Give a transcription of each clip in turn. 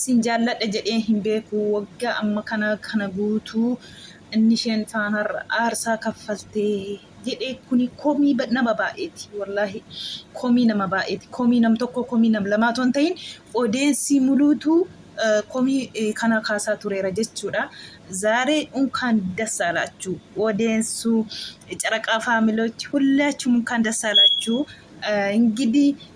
Sin jaalladha jedhee hin beeku waggaa amma kana kana guutuu inni isheen faanaa aarsaa kaffalte jedhee kuni komii ba- nama baay'eeti wallaahi komii nama baay'eeti komii nam tokkoo komii nam lamaa otoo hin ta'in odeensii muluutu eh, komii eh, kana kaasaa tureera jechuudha zaaree unkaan dassaalaachu odeensuu caraqaa faamilochi hullaachum unkaan dassaalaachu Eh, እንግዲህ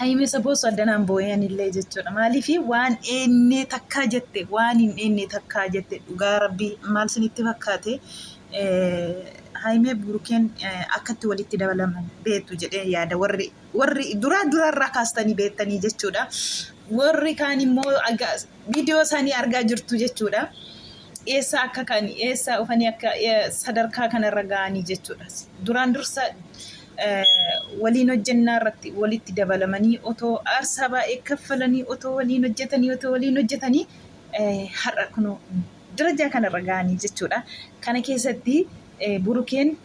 Hayimesa boosu addanaan boo'ee anillee jechuudha. Maaliif waan eennee takkaa jette waan hin eennee takkaa jette dhugaa rabbi maal sinitti fakkaate Hayimee Burukeen akkatti walitti dabalaman beektu jedhee yaada warri warri duraa duraarraa kaastanii beektanii jechuudha. Warri kaan immoo viidiyoo isaanii argaa jirtu jechuudha. Eessa akka ka'ani eessa dhufanii akka sadarkaa kanarra ga'anii jechuudha. Duraan dursa waliin hojjennaa irratti walitti dabalamanii otoo aarsaa baay'ee kaffalanii otoo waliin hojjetanii otoo waliin hojjetanii har'a kun darajaa kanarra ga'anii jechuudha. Kana keessatti burukeen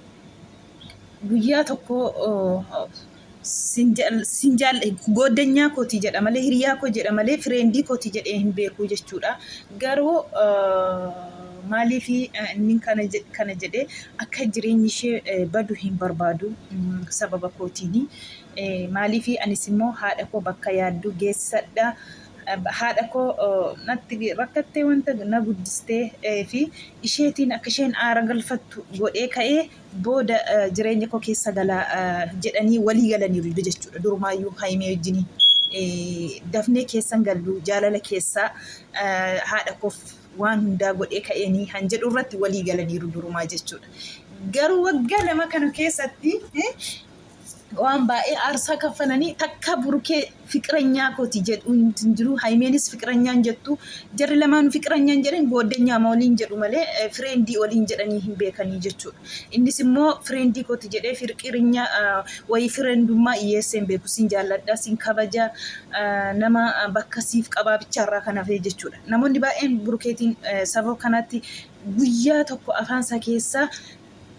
guyyaa tokko sin jaal'e gooddanyaa kootii jedha malee hiriyaa koo jedha malee fireendii kootii jedhee hin beekuu jechuudha. Garuu Maaliif inni kana jedhe akka jireenyi ishee badu hin barbaadu sababa kootiini. Maaliif anis immoo haadha koo bakka yaaddu geessadha. Haadha koo natti rakkattee wanta na guddistee fi isheetiin akka isheen aara galfattu godhee ka'ee booda jireenya koo keessa gala jedhanii walii galaniiru jechuudha. Durumaayyuu Hayimee wajjin dafnee keessan gallu jaalala keessaa haadha koof waan hundaa godhee ka'eenii kan jedhu irratti walii galaniiru durumaa jechuudha. Garuu waggaa lama kana keessatti waan baay'ee aarsaa kaffalanii takka burukee fiqiranyaa kooti jedhu hin jiru. Haymeenis fiqiranyaan jettu jarri lamaan fiqiranyaan jedhan gooddanyaa ma waliin jedhu malee fireendii waliin jedhanii hin beekanii jechuudha. Innis immoo fireendii kooti jedhee firqirinya wayii fireendummaa dhiyeessee hin beeku sin jaalladha sin kabaja nama bakka siif qabaa bichaarraa kan hafee jechuudha. Namoonni baay'een Burukeetiin sababa kanaatti guyyaa tokko afaan isaa keessaa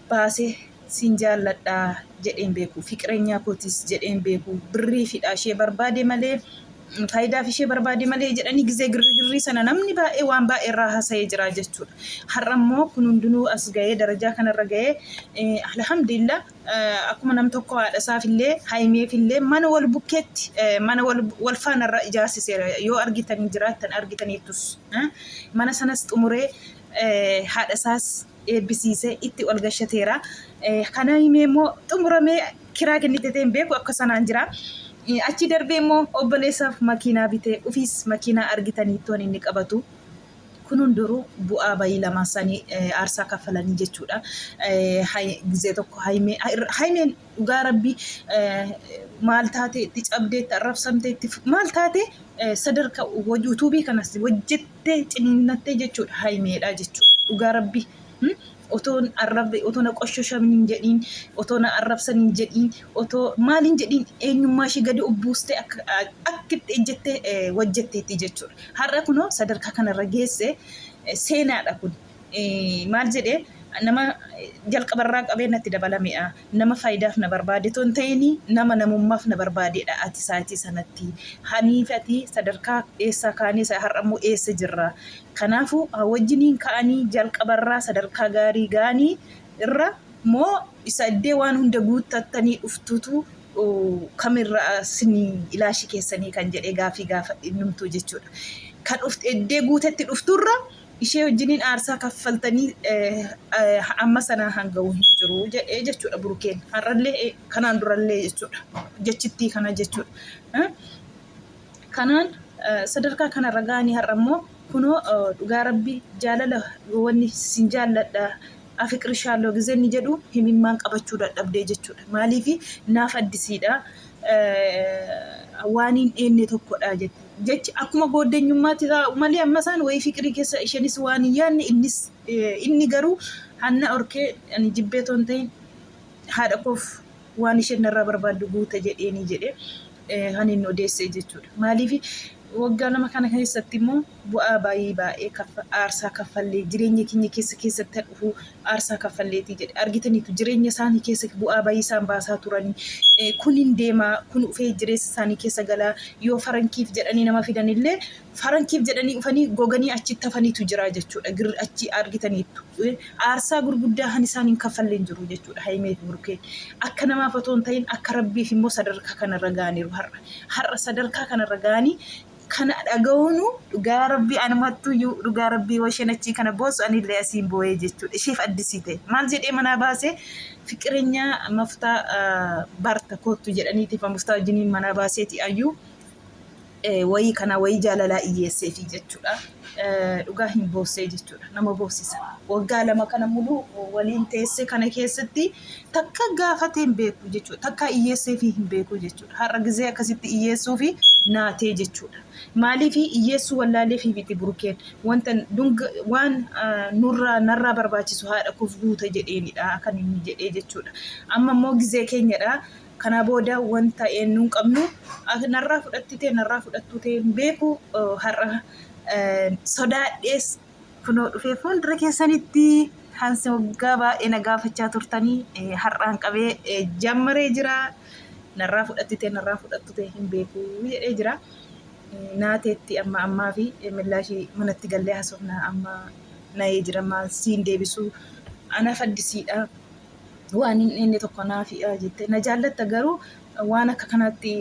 baasee siin jaalladha jedhee hin beeku. Fiqireenyaa kootis jedhee hin beeku. Birrii fidhaa ishee barbaade malee faayidaaf ishee barbaade malee jedhanii gizee girrigirrii sana namni baay'ee waan baay'ee irraa haasa'ee jira jechuudha. Har'a immoo kun hundinuu as ga'ee darajaa kanarra ga'ee alhamdulillah Akkuma nam tokkoo haadha isaafillee Hayimeefillee mana wal bukkeetti mana wal faana irra ijaarsiseera yoo argitanii jiraattan argitaniittus mana sanas xumuree haadha isaas eebbisiisee itti ol gashateera. Kan Hayimee immoo xumuramee kiraa kennitetee hin beeku akka sanaan jira. Achii darbee immoo obboleessaaf makiinaa bitee ofiis makiinaa argitaniittoon inni qabatu Kun hunduruu bu'aa bayii lamaan isaanii aarsaa kaffalanii jechuudha. Gizee tokko haymeen dhugaa rabbii maal taate itti cabdee itti arrabsamtee itti maal taate sadarka yuutuubii kanas hojjettee ciniinnattee jechuudha haymeedha jechuudha dhugaa rabbii. otoo hin arrabne otoo na qoshoshamin hin jedhiin otoo na arrabsan hin jedhiin otoo maal hin jedhiin eenyummaa ishee gadi of buustee akka akka itti ejjette eh, wajjetteetti jechuudha. Har'a kunoo sadarkaa kanarra geesse eh, seenaadha kun. Eh, Maal jedhee nama eh, jalqabarraa qabee natti dabalameedha. Nama faayidaaf na barbaade otoo hin ta'iin nama namummaaf na barbaadeedha ati sa'aatii sanatti. Anii fi ati sadarkaa eessaa kaanee isa har'a immoo eessa jirra. Kanaafuu wajjiniin ka'anii jalqaba irraa sadarkaa gaarii ga'anii irra moo isa iddee waan hunda guuttattanii dhuftuutu kamirra sini ilaashi keessanii kan jedhee gaafii gaafa innumtuu jechuudha. Kan iddee guutetti dhufturra ishee wajjiniin aarsaa kaffaltanii amma sanaa hanga'u hin jiru jedhee jechuudha burukeen har'allee kanaan durallee jechuudha jechittii kana jechuudha kanaan sadarkaa kanarra ga'anii har'a immoo kunoo dhugaa rabbi jaalala wanni sin jaalladha afiqirishaaloo gizenni jedhu himimmaan qabachuu dadhabdee jechuudha maaliif naaf addisiidha waan hin dheenne tokkodha jette. Jechi akkuma gooddenyummaatti taa'u malee amma isaan wayii fiqirii keessa ishenis waan hin yaadne innis inni garuu hanna orkee ani jibbee toon ta'in haadha koof waan isheen narraa barbaaddu guuta jedheenii jedhee kan inni odeessee jechuudha. Maaliif waggaa lama kana keessatti immoo bu'aa baayii baayee kaffa aarsaa kaffallee jireenya keenya keessa keessatti ha dhufuu aarsaa kaffalleetii jedhe argitaniitu jireenya isaanii keessa bu'aa bayii isaan baasaa turanii e, kun hin deemaa kun ufee jireessa isaanii keessa galaa yoo farankiif jedhanii nama fidanillee farankiif jedhanii ufanii goganii achitti hafaniitu jiraa jechuudha girri achi argitaniittu e, aarsaa gurguddaa han isaan hin kaffalleen jiru jechuudha hayimeef burukeen akka namaaf otoo hin ta'in akka rabbiif immoo sadarkaa kanarra gaaniiru har'a har'a sadarkaa kanarra gaanii kana dhaga'uunu dhugaa rabbii anumattuyyuu dhugaa rabbii washeen achii kana boosu anillee asiin boo'ee jechuudha isheef addisii ta'e maal jedhee manaa baasee fiqirinyaa maftaa barta koottu jedhaniitiif maftaa wajjiniin manaa baaseeti ayyuu wayii kana wayii jaalalaa iyyeesseefi jechuudha dhugaa hin boossee jechuudha nama boossisa waggaa lama kana muluu waliin teessee kana keessatti takka gaafatee hin beeku jechuudha takka iyyeesseefi hin beeku jechuudha. har'a gizee akkasitti iyyeessuu fi naatee jechuudha. Maaliif iyyeessuu wallaalee fi miti burukeen wanta dunga waan ah, nurraa narraa barbaachisu haadha koof guuta jedheenidha kan inni jedhee jechuudha. Amma immoo gizee keenyadha. Kanaa booda wanta eenyu hin qabnu ak- narraa fudhattitee narraa fudhattuu ta'e hin beeku eh, har'a eh, sodaadhees Kunoo dhufee fuuldura keessanitti kan si waggaa baay'ee na gaafachaa turtanii eh, har'aan qabee eh, jammaree jira. Narraa fudhattite narraa fudhattute hin beeku jedhee jira. Eh, Naateetti amma ammaa fi eh, millaashii manatti gallee haasofna amma nayee jira maal siin deebisu ana faddisiidha. waan hin dhenne tokko naafidha jette na jaallatta garuu waan akka kanaatti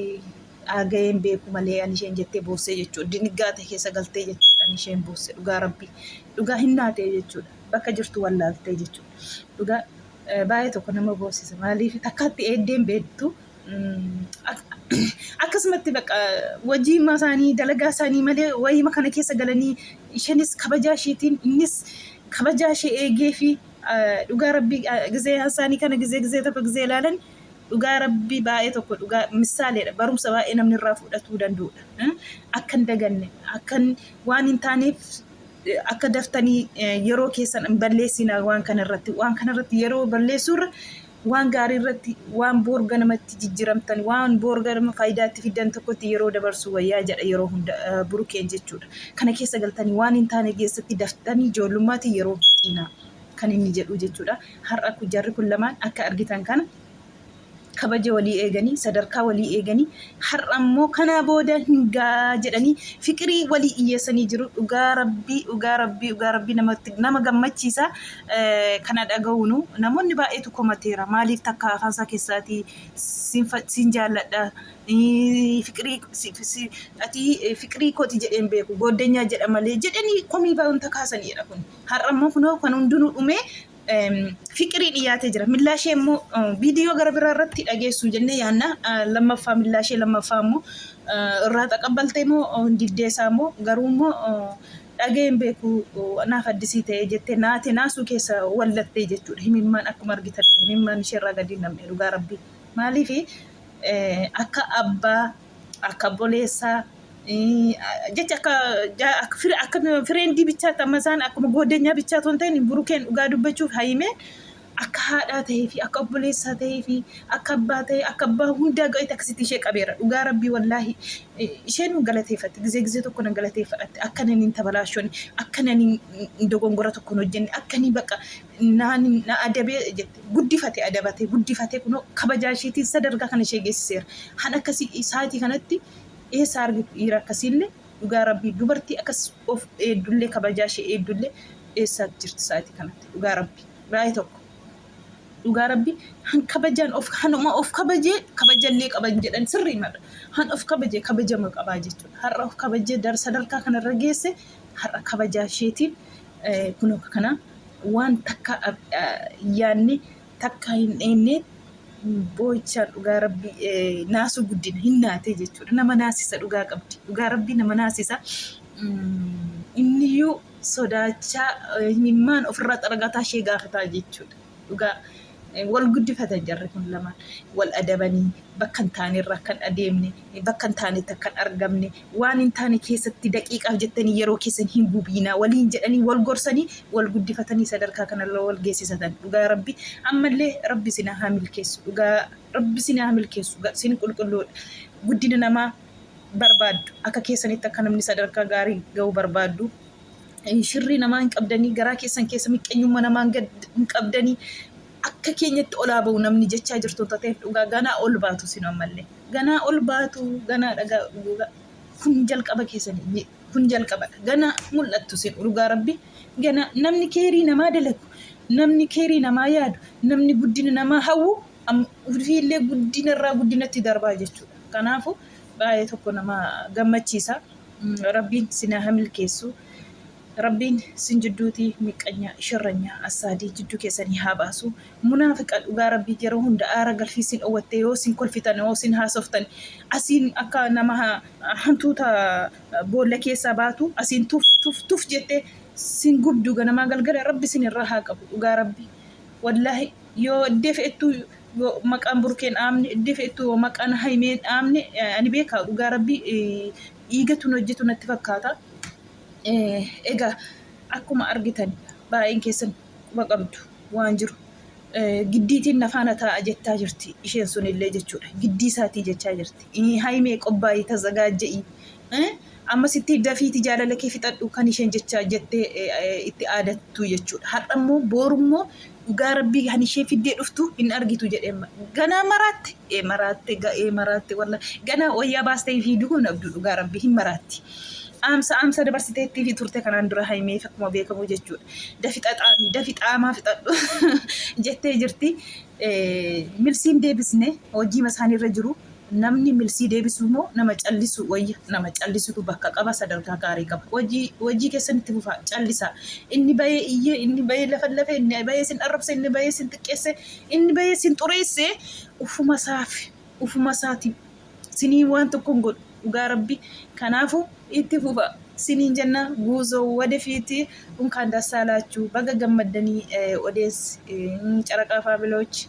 dhaaga'ee hin beeku malee ani isheen jettee boossee jechuudha. Diniggaate keessa galtee jechuudha ani isheen boosse dhugaa rabbii. Dhugaa hin naatee jechuudha. Bakka jirtu wallaaltee jechuudha. Dhugaa eh, baay'ee tokko nama boossisa maaliif takkaatti eeddeen beektu mm, ak- akkasumatti baqa wajii himmaa isaanii dalagaa isaanii malee wayima kana keessa galanii isheenis kabajaa isheetiin innis kabajaa ishee eegee fi eh, dhugaa rabbii eh, gizee isaanii kana gizee gizee tokko gizee ilaalan Dhugaa rabbii baay'ee tokko dhugaa misaaleedha barumsa baay'ee namni irraa fudhatuu danda'udha. Eh, Akka hin daganne akka hin- waan hin taaneef eh, akka daftanii eh, yeroo keessan hin balleessina waan kana irratti waan kana irratti yeroo balleessuurra waan gaarii irratti waan boor ganamatti jijjiramtan waan boor ganama faayidaa itti fiddan tokkotti yeroo dabarsuu wayyaa jedha yeroo hunda eh, burukeen jechuudha. Kana keessa galtanii waan hin taane keessatti daftanii ijoollummaatiin yeroo hin fixinaa. kan inni jedhuu jechuudha. Har'a kun jarri kun lamaan akka argitan kana kabaja walii eeganii sadarkaa walii eeganii har'a immoo kanaa booda hingaa jedhanii fiqirii walii dhiyyeessanii jiru dhugaa rabbii dhugaa rabbii dhugaa rabbii namatti nama gammachiisa Eh, kana dhaga'uunu namoonni baay'eetu komateera maaliif takka afaan isaa keessaatii siin fa- siin jaalladha Eh, fiqirii si- si- ati eh, fiqirii kooti jedheen beeku gooddanyaa jedha malee jedhanii komii baay'inta kaasaniidha kun Har'a immoo kunoo kan hundinuu dhumee fiqirii dhiyaatee jira. Millaa ishee immoo viidiyoo gara biraa irratti dhageessu jennee yaanna. Lammaffaa millaa ishee lammaffaa immoo irraa xaqabbaltee immoo diddee isaa immoo garuu immoo dhagee hin beeku naaf addisii ta'ee jettee naate naasuu keessa wallattee jechuudha. Himimmaan akkuma argitan himimmaan ishee irraa gadi hin namne dhugaa rabbii. Maaliif akka abbaa akka obboleessaa jecha akka akka fireendii bichaatti amma isaan akkuma goodenyaa bichaa osoo hin ta'in burukeen dhugaa dubbachuuf hayimeen akka haadhaa ta'ee fi akka obboleessaa ta'ee fi akka abbaa ta'ee akka abbaa hundaa ga'etti akkasitti ishee qabeera dhugaa rabbii wallaahi isheen nu galateeffatti gizee gizee tokko nan galateeffadhatte akka naniin tabalaashoni akka naniin dogongora tokko hin hojjenne akka nii baqa na adabee jette guddifate adabate guddifate kunoo kabajaa isheetiin sadarkaa kana ishee geessiseera. Han akkasii isaatii kanatti eessa argi dhiira akkasiillee dhugaa rabbii dubartii akkas of eeddullee kabajaa ishee eeddullee eessaa jirti isaatii kanatti dhugaa rabbii baay'ee tokko. Dhugaa rabbii han kabajaan of hanuma of kabajee kabajallee qaban jedhan sirrii madha. Han of kabaje kabajama qabaa jechuudha. Har'a of kabajee dar sadarkaa kanarra geesse har'a kabajaa isheetiin kunoo akka kanaa waan takka yaanni takka hin dheennee boo'ichaan dhugaa rabbii naasuu guddina hin naatee jechuudha. Nama naasisa dhugaa qabdi. Dhugaa rabbii nama naasisa. Inniyyuu sodaachaa imimmaan ofirraa xaragataa ishee gaafataa jechuudha. dhugaa wal guddifatan jarri kun lamaan wal adabanii bakka hin taane irra akkan adeemne bakka hin taanetti akkan argamne waan hin taane keessatti daqiiqaaf jettanii yeroo keessan hin gubiinaa waliin jedhanii wal gorsanii wal guddifatanii sadarkaa kanarra wal geessisatan dhugaa rabbi ammallee rabbi isin haa milkeessu dhugaa rabbi isin haa milkeessu ga- isin qulqulluudha guddina namaa barbaaddu akka keessanitti akka namni sadarkaa gaarii ga'uu barbaaddu shirrii namaa hin qabdanii garaa keessan keessa miqqenyumma namaa hin qabdanii akka keenyatti olaa ba'u namni jechaa jirtu tateef dhugaa ganaa ol baatu sin ammallee ganaa ol baatu ganaa dhagaa kun jalqaba keessanii kun jalqabadha ganaa mul'attu sin dhugaa rabbi ganaa namni keerii namaa dalagu namni keerii namaa yaadu namni guddina namaa hawwu ofiillee guddina irraa guddinatti darbaa jechuudha kanaafu baay'ee tokko nama gammachiisa. rabbiin sinaa hamilkeessu rabbiin sin jidduutii miqqanyaa sharranyaa assaadii jidduu keessanii haa baasu munaafiqa dhugaa rabbii yeroo hunda aara galfii sin owatte yoo sin kolfitan yoo sin haasoftan asiin akka nama hantuuta boolla keessaa baatu asiin tuf tuf tuf jette sin gubdu ganamaa galgala rabbi sin irraa haa qabu dhugaa rabbi wallaahi yoo ddeef ettuu yoo maqaan burkeen dhaamne iddif ittu yoo maqaan haymeen dhaamne ani beekaa dhugaa rabbi dhiigatun hojjetu natti fakkaata egaa akkuma argitan baay'een keessan quba qabdu waan jiru giddiitiin nafaana taa'a jettaa jirti isheen sunillee jechuudha giddii isaatii jechaa jirti haymee qophaa'ii tazagaajja'i Ee amma sitti dafiiti jaalala kee fixadhu kan isheen jecha jette itti aadattu jechuudha. Har'a immoo booru immoo dhugaa rabbii kan ishee fiddee dhuftu hin argitu jedhee ganaa maraatte ee maraatte ga'ee maraatte walla ganaa wayyaa baastee hin fiidu hin abdu dhugaa rabbii hin maraatti. Aamsa aamsa dabarsiteettii fi turte kanaan dura haimeef akkuma beekamu jechuudha. Dafi xaxaami dafi xaamaa fixadhu jettee jirti. Ee, Milsiin deebisne hojiima isaaniirra jiru. Namni milsii deebisu moo nama callisu wayya? Nama callisutu bakka qaba, sadarkaa gaarii qaba. Wajii wajii keessan itti fufaa. Callisaa. Inni bayee iyyee, inni bayee lafallafe, inni bayee sin arrabse, inni bayee sin xiqqeesse, inni bayee sin xureesse ufuma isaaf ufuma isaati sinii waan tokko hin godhu. Dhugaa rabbi kanaafu itti fufa siniin jenna guuzo wadefiiti unkaan dassaa laachuu baga gammaddanii odees caraqaa faabiloochi.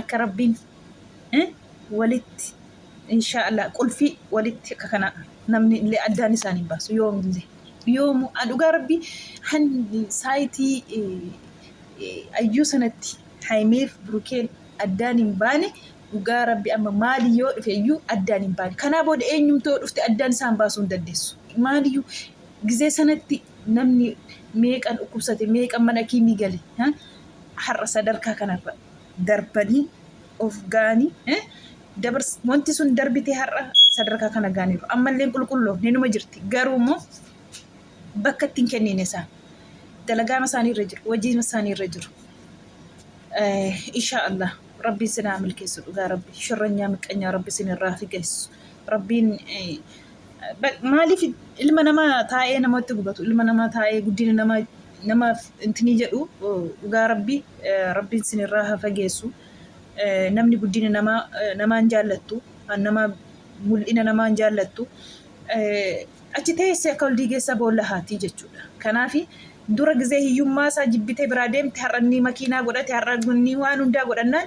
akka rabbiin walitti inshaa Allah qulfii walitti akka kana namni illee addaan isaan hin baasu yoomillee yoomu dhugaa rabbii han saayitii ayyuu sanatti haayimeef burukeen addaan hin baane dhugaa rabbi amma maali yoo dhufe iyyuu addaan hin baane kanaa booda eenyumtoo dhufte addaan isaan baasuu hin dandeessu maaliyyuu gizee sanatti namni meeqan dhukkubsate meeqan mana kiimii gale har'a sadarkaa kanarra darbanii of gaanii eh, dabars wanti sun darbitee har'a sadarkaa kana gaaniiru ammalleen qulqulloofne numa jirti garuu immoo bakka ittiin kenniine isaan dalagaama isaanii irra jiru wajjin isaanii irra jiru Eh, insha Allah rabbiin sinaa milkeessu dhugaa rabbi shirranyaa miqqanyaa rabbi sin irraa figeessu rabbiin eh, maaliif ilma nama taa'ee namatti gubatu ilma nama taa'ee guddina nama namaaf intinii jedhu dhugaa rabbii rabbiin sinirraa haa fageessu namni guddina namaa namaan jaallattu nama mul'ina namaan jaallattu achi teessee akka ol diigeessaa boolla haatii jechuudha kanaafi dura gizee hiyyummaa isaa jibbitee biraa deemte har'a inni makiinaa godhate har'a inni waan hundaa godhannaan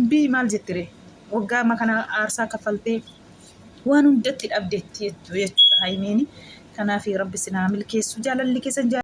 Mbii maal jetti ree waggaa amma kana aarsaa kaffaltee waan hundatti dhabdetti jechuudha haymiini kanaafi rabbi sinaa milkeessu jaalalli keessan